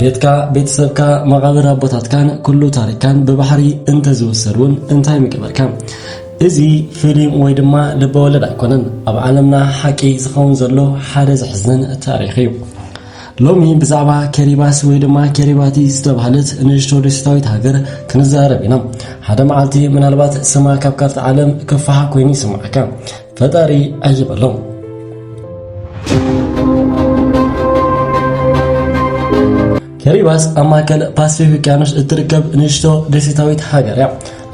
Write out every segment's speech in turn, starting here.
ቤትካ ቤተሰብካ መቓብር ኣቦታትካን ኩሉ ታሪካን ብባሕሪ እንተዝውሰድ እውን እንታይ ምገበርካ እዚ ፊልም ወይ ድማ ልበወለድ ኣይኮነን ኣብ ዓለምና ሓቂ ዝኸውን ዘሎ ሓደ ዘሕዝንን ታሪክ እዩ ሎሚ ብዛዕባ ኬሪባስ ወይ ድማ ኬሪባቲ ዝተባህለት ንእሽቶ ደሴታዊት ሃገር ክንዛረብ ኢና ሓደ መዓልቲ ምናልባት ስማ ካብ ካርታ ዓለም ክፈሓ ኮይኑ ይስምዓካ ፈጣሪ ኣይበሎም። ከሪባስ ኣብ ማእከል ፓስፊክ ውቅያኖስ እትርከብ ንእሽቶ ደሴታዊት ሃገር እያ።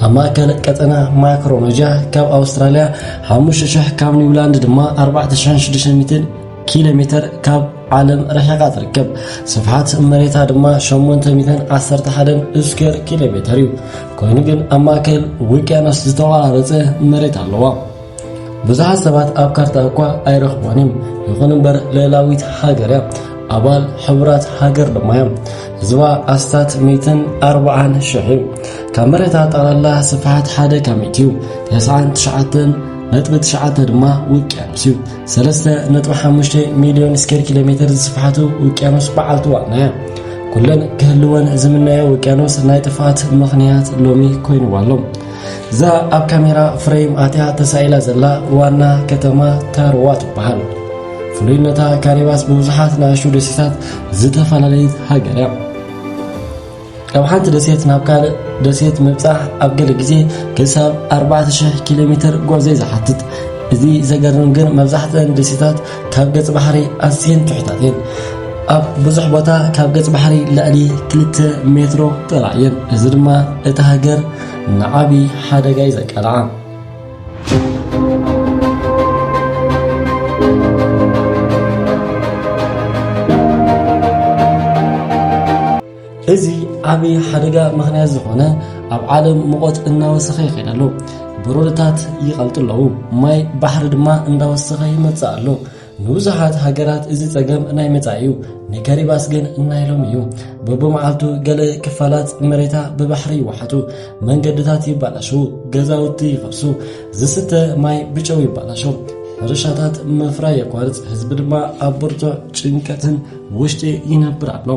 ኣብ ማእከል ቀጠና ማክሮኖጃ ካብ ኣውስትራልያ 5,000 ካብ ኒውላንድ ድማ 4,600 ኪሎ ሜተር ካብ ዓለም ርሒቓ ትርከብ ስፍሓት መሬታ ድማ 811 ስኩዌር ኪሎ ሜተር እዩ ኮይኑ ግን ኣብ ማእከል ውቅያኖስ ዝተቆራረፀ መሬት ኣለዋ ብዙሓት ሰባት ኣብ ካርታ እኳ ኣይረኽቦን እዮም ይኹን እምበር ልዕላዊት ሃገር እያ ኣባል ሕቡራት ሃገር ድማ እዮም ህዝባ ኣስታት 140 ሽሕ እዩ ካብ መሬታ ጠቕላላ ስፍሓት ሓደ ካብ ሚእቲ እዩ 99 ነጥቢ ትሽዓተ ድማ ውቅያኖስ እዩ ሰለስተ ነጥቢ ሓሙሽተ ሚልዮን ስኬር ኪሎ ሜትር ዝስፍሓቱ ውቅያኖስ በዓልቲ ዋናያ ኩለን ክህልወን ዝምነዮ ውቅያኖስ ናይ ጥፍኣት ምኽንያት ሎሚ ኮይኑዋ ኣሎ እዛ ኣብ ካሜራ ፍሬም ኣትያ ተሳኢላ ዘላ ዋና ከተማ ታርዋ ትበሃል ፍሉይነታ ካሪባስ ብብዙሓት ንኣሽቱ ደሴታት ዝተፈላለየት ሃገር እያ ካብ ሓንቲ ደሴት ናብ ካልእ ደሴት ምብጻሕ ኣብ ገለ ግዜ ክሳብ 4,000 ኪሎ ሜትር ጐዕዘ ዝሓትት እዚ ዘገርም ግን መብዛሕትአን ደሴታት ካብ ገጽ ባሕሪ ኣዝየን ትሑታት እየን ኣብ ብዙሕ ቦታ ካብ ገጽ ባሕሪ ልዕሊ 2 ሜትሮ ጥራሕ እየን እዚ ድማ እታ ሃገር ንዓብዪ ሓደጋ እዩ ዘቃልዓ እዚ ዓቢ ሓደጋ ምኽንያት ዝኾነ ኣብ ዓለም ሙቐት እናወሰኸ ይኸይድ ኣሎ ብሮድታት ይቐልጡ ኣለዉ ማይ ባሕሪ ድማ እንዳወሰኸ ይመጽእ ኣሎ ንብዙሓት ሃገራት እዚ ጸገም ናይ መጻኢ እዩ ንከሪባስ ግን ናይ ሎም እዩ በብመዓልቱ ገለ ክፋላት መሬታ ብባሕሪ ይወሓጡ መንገድታት ይባላሸዉ ገዛውቲ ይፈርሱ ዝስተ ማይ ብጨው ይባላሸው ሕርሻታት ምፍራይ የቋርፅ ህዝቢ ድማ ኣብ ብርቱዕ ጭንቀትን ውሽጢ ይነብር ኣሎ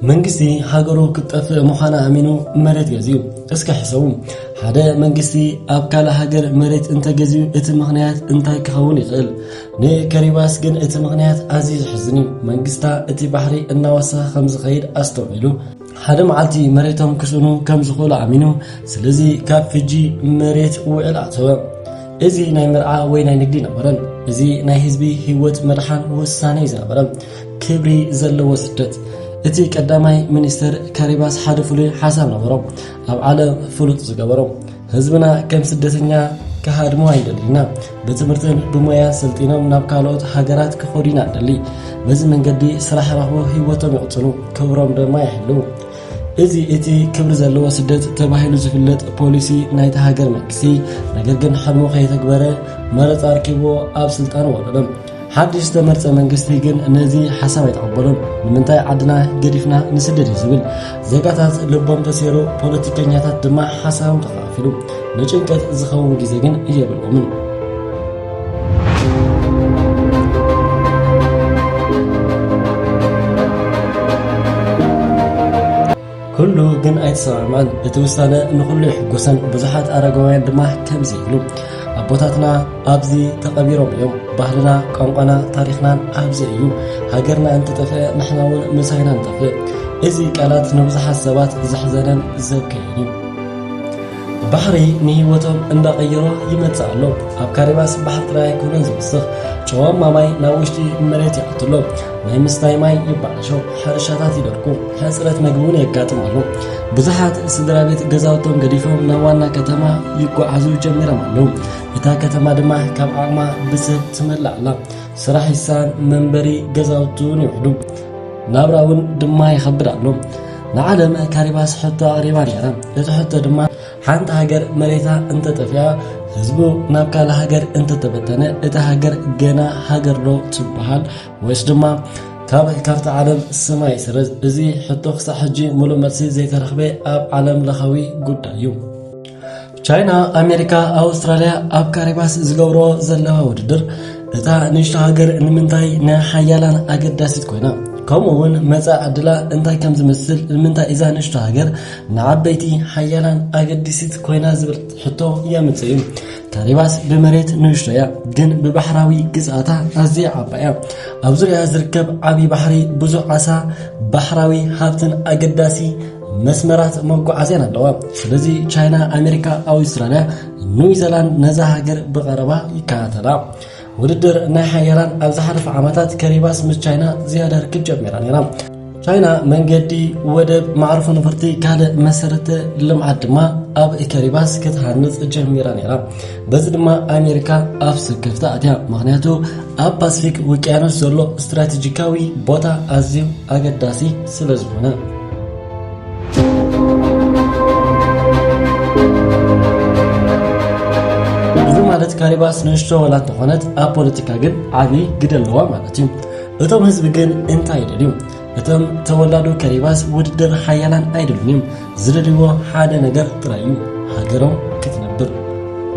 መንግስቲ ሃገሩ ክትጠፍእ ምዃና ኣሚኑ መሬት ገዝዩ እስከ ሕሰቡ ሓደ መንግስቲ ኣብ ካልእ ሃገር መሬት እንተገዝዩ እቲ ምኽንያት እንታይ ክኸውን ይኽእል ንከሪባስ ግን እቲ ምኽንያት ኣዝዩ ዝሕዝን እዩ መንግስታ እቲ ባሕሪ እናወሰኸ ከም ዝኸይድ ኣስተውዒሉ ሓደ መዓልቲ መሬቶም ክስእኑ ከም ዝኽእሉ ኣሚኑ ስለዚ ካብ ሕጂ መሬት ውዕል ኣተወ እዚ ናይ መርዓ ወይ ናይ ንግዲ ነበረን እዚ ናይ ህዝቢ ህይወት መድሓን ውሳኔ ዝነበረ ክብሪ ዘለዎ ስደት እቲ ቀዳማይ ሚኒስትር ካሪባስ ሓደ ፍሉይ ሓሳብ ነበሮ ኣብ ዓለም ፍሉጥ ዝገበሮ ህዝብና ከም ስደተኛ ክሃድሞ ኣይደልዩና ብትምህርትን ብሞያን ሰልጢኖም ናብ ካልኦት ሃገራት ክኸዱ ኢና ደሊ በዚ መንገዲ ስራሕ ረኽቦ ህይወቶም ይቕፅሉ ክብሮም ድማ ይሕልው እዚ እቲ ክብሪ ዘለዎ ስደት ተባሂሉ ዝፍለጥ ፖሊሲ ናይቲ ሃገር መንግስቲ ነገር ግን ሕልሙ ከየተግበረ መረፃ ኣርኪብዎ ኣብ ስልጣን ወረዶም ሓድሽ ዝተመርጸ መንግስቲ ግን ነዚ ሓሳብ ኣይተቐበሎን። ንምንታይ ዓድና ገዲፍና ንስደድ እዩ ዝብል። ዜጋታት ልቦም ተሰይሩ፣ ፖለቲከኛታት ድማ ሓሳቦም ተኸፋፊሉ። ንጭንቀት ዝኸውን ግዜ ግን የብሎምን። ኩሉ ግን ኣይተሰማዕማን። እቲ ውሳነ ንኹሉ የሕጎሰን፣ ብዙሓት ኣረጋውያን ድማ ከምዚ ይብሉ፣ ኣቦታትና ኣብዚ ተቐቢሮም እዮም፣ ባህልና፣ ቋንቋና፣ ታሪኽናን ኣብዚ እዩ፣ ሃገርና እንተጠፍአ ንሕና እውን ምሳይና ንጠፍእ። እዚ ቃላት ንብዙሓት ሰባት ዘሕዘነን ዘብከየን እዩ። ባሕሪ ንህይወቶም እንዳቐየሮ ይመጽእ ኣሎ። ኣብ ካሪባስ ባሕሪ ጥራይ ኣይኮነን ዝወስኽ፣ ጨዋማ ማይ ናብ ውሽጢ መሬት ይኣቱ ኣሎ። ናይ ምስታይ ማይ ይበላሾ፣ ሕርሻታት ይደርቁ፣ ሕጽረት መግቢ እውን የጋጥም ኣሎ። ብዙሓት ስድራ ቤት ገዛውቶም ገዲፎም ናብ ዋና ከተማ ይጓዓዙ ጀሚሮም ኣለዉ። እታ ከተማ ድማ ካብ ዓቕማ ብሰብ ትመልእ ኣላ። ስራሕ ይሳን፣ መንበሪ ገዛውቲ እውን ይውሕዱ፣ ናብራ እውን ድማ ይኸብድ ኣሎ። ንዓለም ካሪባስ ሕቶ ኣቕሪባ ነይራ። እቲ ሕቶ ድማ ሓንቲ ሃገር መሬታ እንተጠፊኣ ህዝቡ ናብ ካልእ ሃገር እንተተበተነ እቲ ሃገር ገና ሃገር ዶ ትበሃል ወይስ ድማ ካብ ካርታ ዓለም ስማይ ስረዝ እዚ ሕቶ ክሳዕ ሕጂ ሙሉእ መልሲ ዘይተረኽበ ኣብ ዓለም ለኻዊ ጉዳይ እዩ። ቻይና፣ ኣሜሪካ፣ ኣውስትራልያ ኣብ ካሪባስ ዝገብሮ ዘለዋ ውድድር እታ ንእሽቶ ሃገር ንምንታይ ናይ ሓያላን ኣገዳሲት ኮይና ከምኡ እውን መጻእ ዕድላ እንታይ ከም ዝመስል ንምንታይ እዛ ንእሽቶ ሃገር ንዓበይቲ ሓያላን ኣገዲሲት ኮይና ዝብል ሕቶ የምጽ እዩ ካሪባስ ብመሬት ንእሽቶ እያ ግን ብባሕራዊ ግዝኣታ ኣዝያ ዓባ እያ ኣብ ዙርያ ዝርከብ ዓብዪ ባሕሪ ብዙሕ ዓሳ ባሕራዊ ሃብትን ኣገዳሲ መስመራት መጓዓዝያን ኣለዋ ስለዚ ቻይና ኣሜሪካ ኣውስትራልያ ኒውዚላንድ ነዛ ሃገር ብቐረባ ይከታተላ ውድድር ናይ ሓያላን ኣብ ዝሓለፈ ዓመታት ከሪባስ ምስ ቻይና ዝያዳ ርክብ ጀሚራ ነይራ ቻይና መንገዲ ወደብ ማዕርፎ ነፈርቲ ካልእ መሰረተ ልምዓት ድማ ኣብ ከሪባስ ክትሃንፅ ጀሚራ ነይራ በዚ ድማ ኣሜሪካ ኣፍ ስክፍታ ኣትያ ምክንያቱ ኣብ ፓስፊክ ውቅያኖስ ዘሎ ስትራቴጂካዊ ቦታ ኣዝዩ ኣገዳሲ ስለ ዝኾነ ካሪባስ ንእሽቶ ወላ እንተኾነት ኣብ ፖለቲካ ግን ዓብዪ ግደ ኣለዋ ማለት እዩ እቶም ህዝቢ ግን እንታይ ይደልዩ እቶም ተወላዶ ከሪባስ ውድድር ሓያላን ኣይደሉን እዮም ዝደልይዎ ሓደ ነገር ጥራይ እዩ ሃገሮም ክትነብር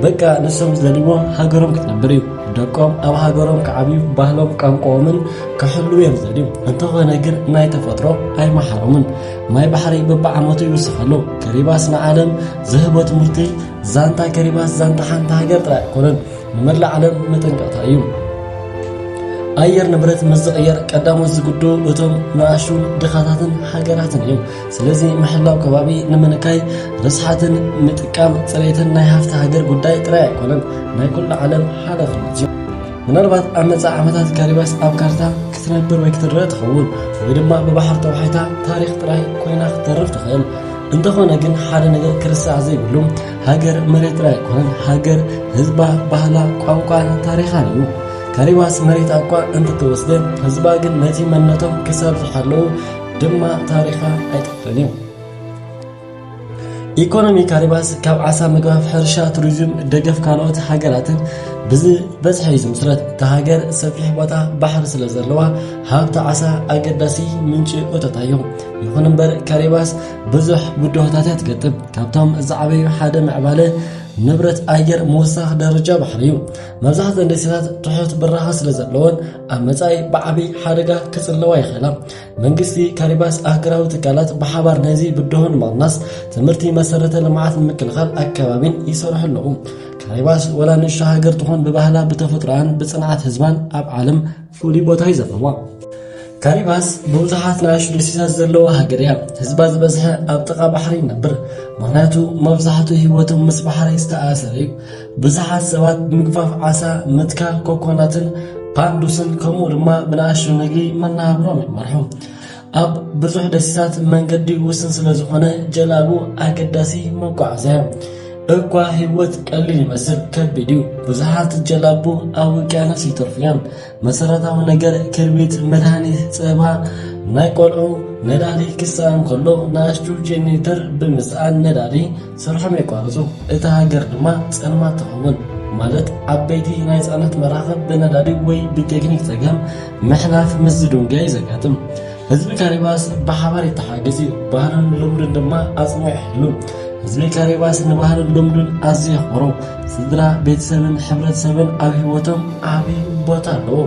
በቃ ንሶም ዝደልይዎ ሃገሮም ክትነብር እዩ ደቆም ኣብ ሃገሮም ክዓብዩ ባህሎም ቋንቋኦምን ክሕልው እዮም ዝደልዩ እንተኾነ ግን ናይ ተፈጥሮ ኣይመሓሮምን ማይ ባሕሪ በብዓመቱ ይውስኸሉ ከሪባስ ንዓለም ዝህቦ ትምህርቲ ዛንታ ከሪባስ ዛንታ ሓንቲ ሃገር ጥራይ ኣይኮነን ንመላእ ዓለም መጠንቀቕታ እዩ። ኣየር ንብረት ምስ ዝቕየር ቀዳሞት ዝግዱ እቶም ንኣሹን ድኻታትን ሃገራትን እዮም። ስለዚ ምሕላው ከባቢ ንምንካይ ርስሓትን ምጥቃም ፅሬትን ናይ ሃፍቲ ሃገር ጉዳይ ጥራይ ኣይኮነን፣ ናይ ኩሉ ዓለም ሓላፍነት እዩ። ምናልባት ኣብ መጻእ ዓመታት ካሪባስ ኣብ ካርታ ክትነብር ወይ ክትረአ ትኸውን ወይ ድማ ብባሕር ተዋሒታ ታሪኽ ጥራይ ኮይና ክትተርፍ ትኽእል። እንተኾነ ግን ሓደ ነገር ክርሳዕ ዘይብሉ ሃገር መሬት ጥራይ ኣይኮነን፣ ሃገር ህዝባ፣ ባህላ፣ ቋንቋን ታሪኻን እዩ። ከሪባስ መሬት ኣቋ እንትተወስደ ህዝባ ግን ነቲ መንነቶም ክሳብ ዝሓለዉ ድማ ታሪኻ ኣይጠፍርን እዩ። ኢኮኖሚ ካሪባስ ካብ ዓሳ ምግባፍ፣ ሕርሻ፣ ቱሪዝም፣ ደገፍ ካልኦት ሃገራትን ብዝበዝሐ እዩ ዝምስረት። እታ ሃገር ሰፊሕ ቦታ ባሕሪ ስለ ዘለዋ ሃብቲ ዓሳ ኣገዳሲ ምንጪ እቶታ እዩ። ይኹን እምበር ካሪባስ ብዙሕ ብድሆታት እያ ትገጥም። ካብቶም ዝዓበዩ ሓደ ምዕባለ ንብረት ኣየር ምውሳኽ ደረጃ ባሕሪ እዩ መብዛሕተን ደሴታት ትሑት ብራኸ ስለ ዘለወን ኣብ መጻኢ ብዓብዪ ሓደጋ ክጽለዋ ይኽእላ መንግስቲ ካሪባስ ኣህገራዊ ትካላት ብሓባር ነዚ ብድሆ ንምቕናስ ትምህርቲ መሰረተ ልምዓት ንምክልኻል ኣከባቢን ይሰርሑ ኣለዉ ካሪባስ ወላ ንእሽቶ ሃገር ትኾን ብባህላ ብተፈጥሮኣን ብጽንዓት ህዝባን ኣብ ዓለም ፍሉይ ቦታ እዩ ዘለዋ። ካሪባስ ብብዙሓት ንኣሽቱ ደሴታት ዘለዋ ሃገር እያ። ህዝባ ዝበዝሐ ኣብ ጥቓ ባሕሪ ይነብር፣ ምክንያቱ መብዛሕትኡ ህይወቶም ምስ ባሕሪ ዝተኣሰረ እዩ። ብዙሓት ሰባት ብምግፋፍ ዓሳ፣ ምትካል ኮኮናትን ፓርዱስን ከምኡ ድማ ብንኣሽቱ ንግዲ መነባብሮም ይመርሑ። ኣብ ብዙሕ ደሴታት መንገዲ ውስን ስለ ዝኾነ ጀላቡ ኣገዳሲ መጓዓዝያ እኳ ህይወት ቀሊል ይመስል ከቢድ እዩ። ብዙሓት ጀላቡ ኣብ ውቅያኖስ ይተርፉ እዮም። መሰረታዊ ነገር ክርቢት፣ መድሃኒት፣ ፀባ፣ ናይ ቆልዑ ነዳዲ ክሰኣን ከሎ ንኣሽቱ ጀኔተር ብምስኣን ነዳዲ ስርሖም የቋርጹ፣ እታ ሃገር ድማ ጸልማት ትኸውን። ማለት ዓበይቲ ናይ ጽዕነት መራኽብ ብነዳዲ ወይ ብቴክኒክ ጸገም ምሕላፍ ምስ ዝድንገ እዩ ዘጋጥም። ህዝቢ ካሪባስ ብሓባር ይተሓገዝ እዩ፣ ባህሉን ልምዱን ድማ ኣጽኒዑ ይሕሉ። ህዝቢ ካሪባስ ንባህሉን ልምዱን ኣዝዩ የኽብሮ። ስድራ ቤተሰብን ሕብረተሰብን ኣብ ህይወቶም ዓብዪ ቦታ ኣለዎ።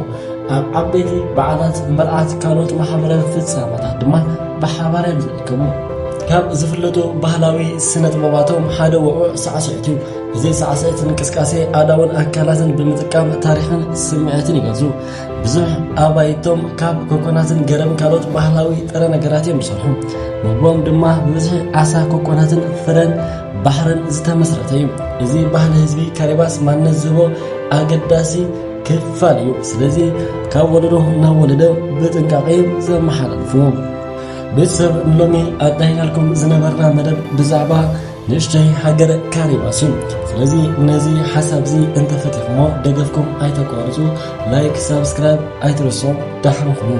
ኣብ ዓበይቲ በዓላት፣ መርዓት፣ ካልኦት ማሕበራዊ ፍጻመታት ድማ ብሓባር እዮም ከም ካብ ዝፍለጡ ባህላዊ ስነጥበባቶም ሓደ ውዑዕ ሳዕስዒት እዩ። እዚ ሳዕስዒት እንቅስቃሴ ኣእዳውን ኣካላትን ብምጥቃም ታሪኽን ስምዒትን ይገልጹ። ብዙሕ ኣባይቶም ካብ ኮኮናትን ገረብን ካልኦት ባህላዊ ጥረ ነገራት እዮም ዝሰርሑ። ምግቦም ድማ ብብዝሒ ዓሳ፣ ኮኮናትን ፍረን ባሕርን ዝተመስረተ እዩ። እዚ ባህሊ ህዝቢ ካሪባስ ማንነት ዝህቦ ኣገዳሲ ክፋል እዩ። ስለዚ ካብ ወለዶ ናብ ወለዶ ብጥንቃቄ ዘመሓላልፍዎ ቤተሰብ ሎሚ ኣዳሂናልኩም ዝነበርና መደብ ብዛዕባ ንእሽተይ ሃገር ካሪባስ እዩ ስለዚ ነዚ ሓሳብ እዚ እንተፈቲኹሞ ደገፍኩም ኣይተቋርፁ ላይክ ሳብስክራይብ ኣይትረስዑ ዳሕንኹም